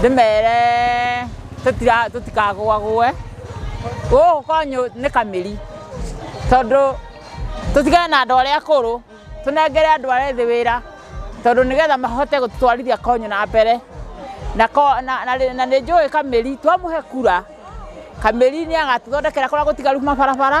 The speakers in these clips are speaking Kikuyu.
ndĩmere tũtira- tũtikagwagwe gũkũ kwanyu nĩ kamĩri tondũ tũtigane na andũ arĩa akũrũ tũnengere andũ arĩa ethĩ wĩra tondũ nĩgetha mahote gũtwarithia konyu na mbere na ko- na- na- na nĩ njũĩ kamĩri twamũhe kura kamĩri nĩ agatuthondekera kũrĩa gũtigaru mabarabara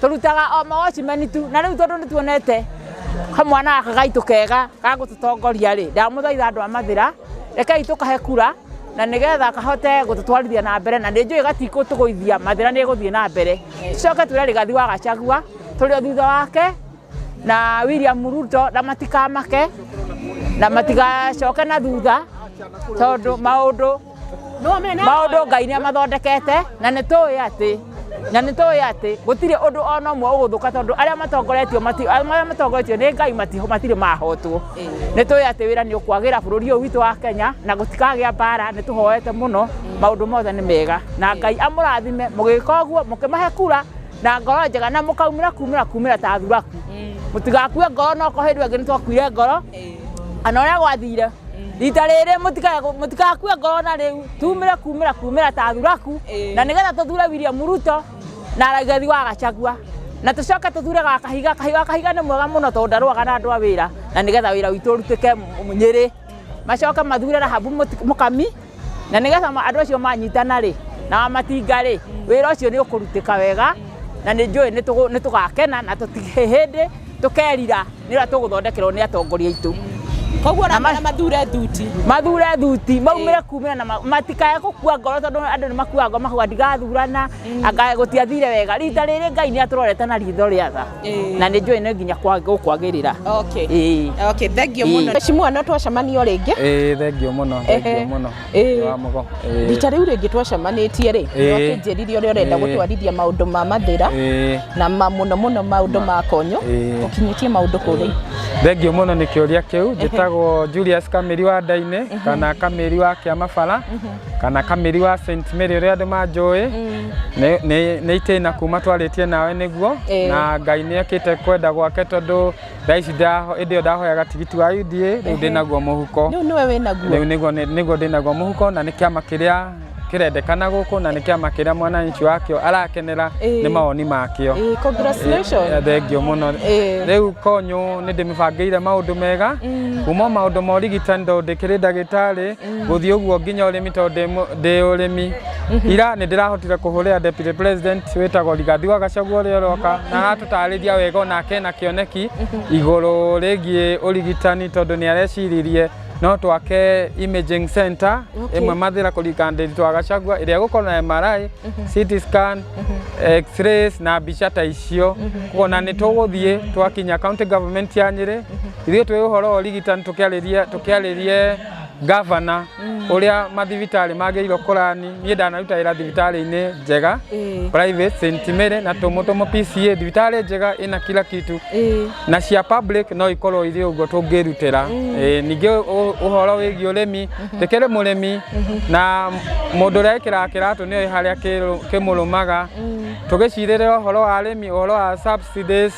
Tũrutaga o mawacimeni tu, na rĩu tondũ nĩ tuonete kamwana gaka gaitũ kega ga gũtũtongoria rĩ, ndamũthaitha andũ a Mathĩra, rekei tũkahe kura na nĩgetha kahote gũtũtwarithia na mbere na nĩ njũĩ gatigũtũgũithia, Mathĩra nĩ ĩgũthiĩ na mbere. Tũcoke twĩre Rigathi wa Gachagua tũrĩ o thutha wake na William Ruto na matikamake na matigacoke na thutha tondũ maũndũ... maũndũ ngai nĩ amathondekete na nĩ tũĩ atĩ na nĩ tũĩ atĩ gũtirĩ ũndũ ona ũmwe ũgũthũka tondũ arĩa matongoretio arĩa matongoretio nĩ ngai matirĩ mahotwo nĩ tũĩ atĩ wĩra nĩ ũkwagĩra bũrũri ũyũ witũ wa kenya na gũtikagĩa mbara nĩ tũhoete mũno maũndũ mothe nĩ mega na ngai amũrathime mũgĩka ũguo mũkĩmahe kura na ngoro njega na mũkaumĩra kumĩra kumĩra ta thuraku mũtigakue ngoro no ko hĩndĩ ĩngĩ nĩ twakuire ngoro kana ũrĩa gwathire rita rĩrĩ mũtikakue ngoro na rĩu tumĩre kumĩra kumĩra ta thuraku na nĩgetha tũthure William Ruto na raigethi wa Gachagua na tũcoke tũthure ga kahiga kahiga kahiga nĩ mwega mũno tondũ ndarũaga na andũ a wĩra na nĩgetha wĩra witũ ũrutĩke Nyĩrĩ macoke mathure Rahabu Mũkami. Na nĩ getha andũ acio manyitana-rĩ, na wamatinga-rĩ, wĩra ũcio nĩ ũkũrutĩka wega, na nĩ njũĩ nĩ tũgakena na tũtirĩ hĩndĩ tũkerira nĩ ũrĩa tũgũthondekerwo nĩ atongoria aitũ. Koguo ona mara mathure thuti. Mathure thuti, maumĩre kumĩra na matikae gũkua ngoro tondũ andũ nĩ makuaga ngoro makaigua ndigathurana, anga gũtiathire wega. Rita rĩrĩ Ngai nĩ atũrorete na ritho rĩa tha. Ĩĩ. na nĩ njũĩ no nginya kwa- gũkwagĩrĩra Okay. Ĩĩ. Okay, thengio mũno. Ĩĩ. Mheshimiwa, no twacemania o rĩngĩ? Ĩĩ, thengio mũno Ehe. thengio mũno Ĩĩ. Nĩ wa mũgo Ĩĩ. Rita rĩu rĩngĩ twacemanĩtie rĩ, Ĩĩ. wakĩnjĩrire ũrĩa ũrenda Ĩĩ. gũtwarithia maũndũ ma mathĩra Ĩĩ. na ma- mũno mũno maũndũ ma konyũ Ĩĩ. ũkinyĩtie maũndũ kũrĩ thengio mũno nĩ kĩũria kĩu njĩtagwo Julius Kamiri wa Ndainĩ kana Kamiri wa Kĩamabara kana kamiri wa Saint Mary ũrĩa andũ manjũĩ mm. nĩ itĩna kuma twarĩtie nawe nĩguo eh. na Ngai nĩ ekĩte kwenda gwake tondũ thaa ici ĩndĩ yo ndahoyaga tigiti wa UDA rĩu ndĩ naguo mũhuko rĩu nĩguo ndĩ naguo mũhuko na nĩ kĩama kĩrĩa kirendekana guku na nä kä ama kä rä a mwananchi wakio arakenera nä mawoni makio thengio må no rä u konyå nä ndä mä bangä ire maå ndå mega mm. kuma maå ndå ma å rigitani tondå ndä kä rä ndagä tarä Ngũthiĩ ũguo nginya ũrĩmi tondũ ndĩ ũrĩmi. Mhm. Ira nĩ ndĩrahotire kũhũrĩra deputy president wĩtagwo Rigathi wa Gachagua ũrĩa ũroka na aratũtarĩria wega onake na kĩoneki mhm. igũrũ rĩgiĩ ũrigitani tondũ nĩ areciririe no twake imaging center okay. ĩmwe mathĩra kũringana ndĩri twa gacagua ĩrĩa gũkorwo na MRI mhm. CT scan mhm. x-rays na mbica ta icio mhm. koguo na nĩ tũgũthiĩ twakinya county government ya Nyĩrĩ ithuĩ twĩ ũhoro wa ũrigitani tũkĩarĩrie ngavana uria mathibitarĩ magĩirwo kũrani niĩ ndanaruta wĩra thibitarĩ-inĩ njega Ĩĩ. private St Mary na tũmũ tũmũ PCA thibitarĩ njega ĩna kila kitu Ĩĩ. na cia public no ikorwo irĩ ũguo tũngĩrutĩra Eh, ningĩ ũ- ũhoro wĩgiĩ ũrĩmi tĩkĩrĩ mũrĩmi na mũndũ ũrĩa ĩkĩraga kĩratũ nĩoĩ harĩa kĩrũ- kĩmũrũmaga tũgĩcirĩrĩra ũhoro wa arĩmi ũhoro wa subsidies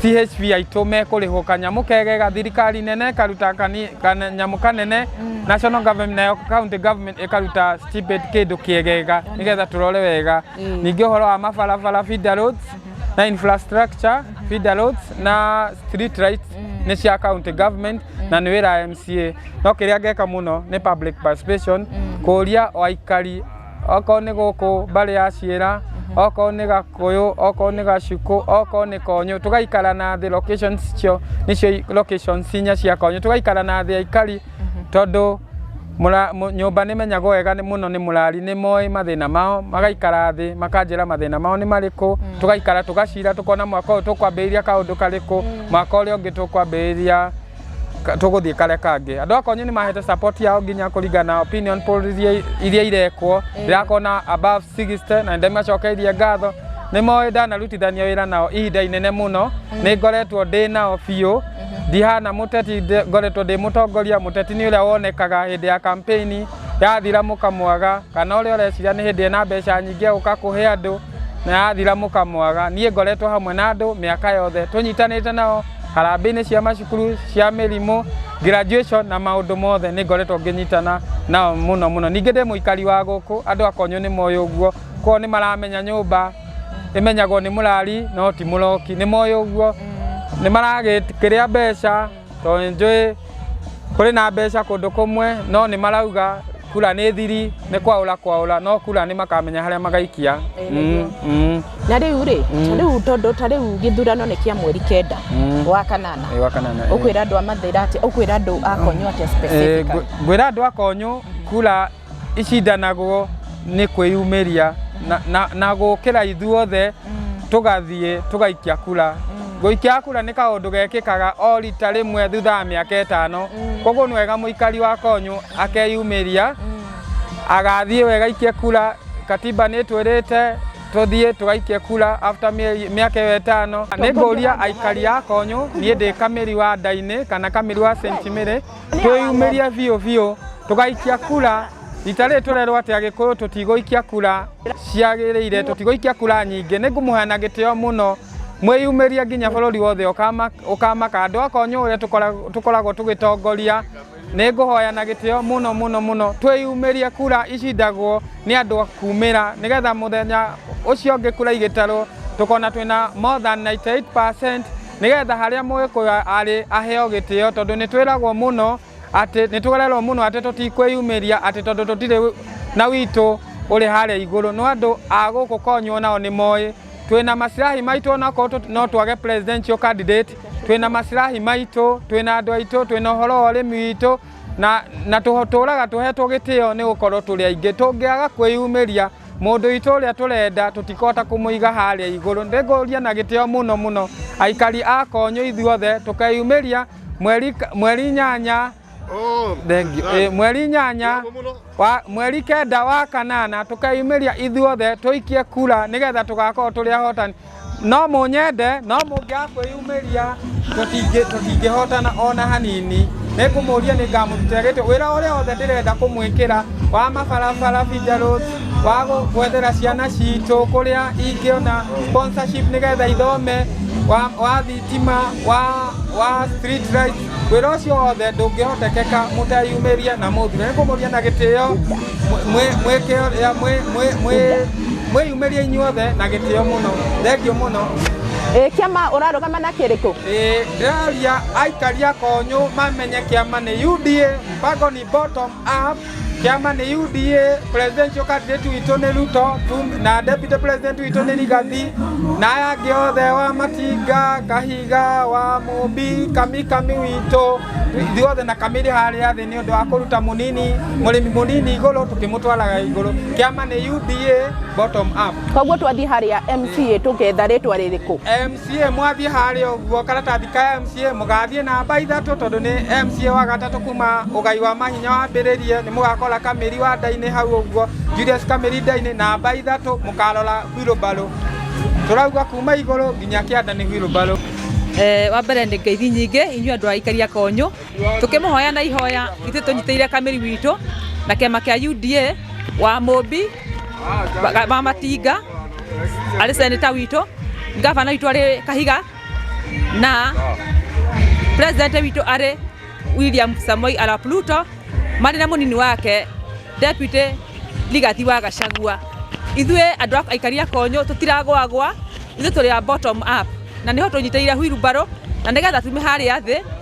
CHP aitũ mekũrĩhwo kanyamũ kegega thirikari nene ĩkaruta kanyamũ kanene mm. national government nayo county government ĩkaruta stipend kĩndũ kĩegega mm. nĩgetha tũrore wega mm. ningĩ ũhoro wa mabarabara feeder roads mm-hmm. na infrastructure mm-hmm. feeder roads na street lights nĩ cia county government na nĩ wĩra MCA no kĩrĩa ngeka mũno nĩ public participation kũria o aikari okorwo nĩ gũkũ mbarĩ ya ciĩra okorwo nĩ gakũyũ okorwo nĩ gacukũ okorwo nĩ konyũ tũgaikara na thĩ locations cio nicio locations inya cia konyũ tũgaikara na thĩ aikari tondũ mũra- mũ- nyũmba nĩ menyagwo wega nĩ- mũno nĩ mũrari nĩ moĩ mathĩna mao magaikara thĩ makanjĩra mathĩna mao nĩ marĩkũ tũgaikara tũgacira tũkona mwaka ũyũ tũkwambĩrĩria kaũndũ karĩkũ mwaka ũrĩa ũngĩ tũkwambĩrĩria Ka- tũgũthiĩ karĩa kangĩ andũ akonyu nĩ mahete support yao nginya kũringana na opinion poll iria- iria irekwo ndirakona above 60 na ndĩmacokeirie ngatho nĩ moĩ ndanarutithania wĩra nao ihinda inene mũno nĩ ngoretwo ndĩ nao biũ ndihana mũteti ndĩ- ngoretwo ndĩ mũtongoria mũteti nĩ ũrĩa wonekaga hĩndĩ ya kampeni yathira mũkamwaga kana ũrĩa ũreciria nĩ hĩndĩ ena mbeca nyingĩ agũka kũhe andũ na yathira mũkamwaga niĩ ngoretwo hamwe na andũ mĩaka yothe tũnyitanĩte nao harambĩ-inĩ cia macukuru cia mĩrimũ graduation na maũndũ mothe nĩ ngoretwo ngĩnyitana nao mũno mũno ningĩ ndĩ mũikari wa gũkũ andũ akonyũ nĩ moĩ ũguo kwao nĩ maramenya nyũmba ĩmenyagwo nĩ mũrari no ti mũroki nĩ moĩ ũguo nĩ maragĩkĩrĩa mbeca to njũĩ kũrĩ na mbeca kũndũ kũmwe no nĩ marauga kura nĩ thiri nĩ kwaũra kwaũra no kura nĩ makamenya harĩa magaikia Eh, Mm, mm, na rĩu rĩ ta rĩu tondũ ta rĩu gĩthurano nĩ kĩa mweri kenda Mm. wa kanana ĩĩ, wa kanana, ĩĩ. ũkwĩra andũ a mathĩra atĩ ũkwĩra andũ a konyo atĩ Eh, specifically ngwĩra andũ a konyo kura icindanagwo nĩ kwĩyumĩria na, na, na gũkĩra ithuothe tũgathiĩ tũgaikia kura gũikia kura nĩ kaũndũ gekĩkaga o rita rĩmwe thutha wa mĩaka ĩtano koguo nĩ wega mũikari wa konyũ akeyumĩria agathiĩ wega aikie kura katiba nĩ twĩrĩte tũthiĩ tũgaikie kura after mĩeri- mĩaka ĩyo ĩtano nĩ ngũria aikari a konyũ niĩ ndĩ kamiri wa ndainĩ kana kamiri wa St. Mary twĩyumĩria biũ biũ tũgaikia kura rita rĩrĩ tũrerwo atĩ agĩkũyũ tũtigũikia kura ciagĩrĩire tũtigũikia kura nyingĩ nĩ ngũmũhe na gĩtĩo mũno mwĩyumĩria nginya bũrũri wothe ũkama- ũkamaka andũ akonyũ ũrĩa tũkora- tũkoragwo tũgĩtongoria nĩ ngũhoya na gĩtĩo mũno mũno mũno twĩyumĩrie kura icindagwo nĩ andũ kumĩra nĩgetha mũthenya ũcio ũngĩ kura igĩtarwo tũkona twĩna more than 98% nĩgetha harĩa mũgĩkũyũ arĩ aheo gĩtĩo tondũ nĩ twĩragwo mũno atĩ nĩ tũgererwo mũno atĩ tũtikwĩyumĩria atĩ tondũ tũtirĩ na witũ ũrĩ harĩa igũrũ no andũ a gũkũ konyuo nao nĩ moĩ twĩna macirahi maitũ onakorwo no twage presidential candidate twĩna macirahi maitũ twĩna andũ aitũ twĩna ũhoro wa ũrĩmi witũ na, na tũtũraga tũhetwo gĩtĩo nĩ gũkorwo tũrĩ aingĩ tũngĩaga kwĩyumĩria Mũndũ witũ ũrĩa tũrenda tũtikũhota kũmũiga harĩa igũrũ. Ndĩngũria na gĩtĩo mũno mũno aikari a Konyũ ithuothe tũkeyumĩria mweri mweri inyanya Thank you. Eh, mweri inyanya wa mweri kenda wa kanana tũkeyumĩria ithuothe tũikie kura nĩgetha tũgakorwo tũrĩ ahotani. no mũnyende no mũngĩaga kwĩyumĩria tũtingĩhotana ona hanini nĩ kũmũria nĩ ngamũrutĩra gĩtĩ wĩra ũrĩa wothe ndĩrenda kũmwĩkĩra wa mabarabara Fidelis wa gwethera ciana citũ kũrĩa ingĩona sponsorship nĩgetha ithome wa thitima wa street light wĩra ũcio wothe ndũngĩhotekeka mũteyumĩria na mũthure nĩ kũmũria na gĩtĩo mwĩyumĩrie inyuothe na gĩtĩo mũno thengio mũno Ĩ kĩama ũrarũgama na kĩrĩkũ? Ĩ ndĩraria aikari a Konyũ mamenye kĩama nĩ UDA, mpango ni bottom up. Kĩama nĩ UDA, presidential candidate witũ nĩ Ruto, tu- na deputy president witũ nĩ Rigathi, na aya angĩ othe wa Matinga, Kahiga, wa Mũmbi, Kami Kami witũ, ithuothe na Kamiri harĩa thĩ nĩ ũndũ wa kũruta mũnini, mũrĩmi mũnini igũrũ tũkĩmũtwaraga igũrũ. Kĩama nĩ UDA, bottom up. Koguo twathiĩ harĩa MCA tũgetha rĩtwa rĩrĩkũ? MCA mwathiĩ harĩa ũguo karatathi ka MCA mũgathiĩ namba ithatũ tondũ nĩ MCA wa gatatũ kuma ũgai wa mahinya wambĩrĩrie nĩ mũgakora kamĩri wa ndainĩ hau ũguo Julius kamĩri ndainĩ namba ithatũ mũkarora wheelbarrow tũrauga kuma igũrũ nginya kĩanda nĩ wheelbarrow. Eh, wa mbere nĩ ngeithi nyingĩ inyuĩ andũ a ikari a konyũ tũkĩmũhoya na ihoya ithuĩ tũnyitĩire kamĩri witũ na kĩama kĩa UDA wa Mũmbi wa- wa Matinga arĩ seneta witũ gavana witũ arĩ Kahiga na president witũ arĩ William Samoei Arap Ruto marĩ na mũnini wake deputy Rigathi wa Gachagua ithuĩ andũ a- aikari a Konyũ tũtiragwagwa ithuĩ tũrĩ a bottom up na nĩho tũnyitĩire wheelbarrow na nĩgetha tume harĩa thĩ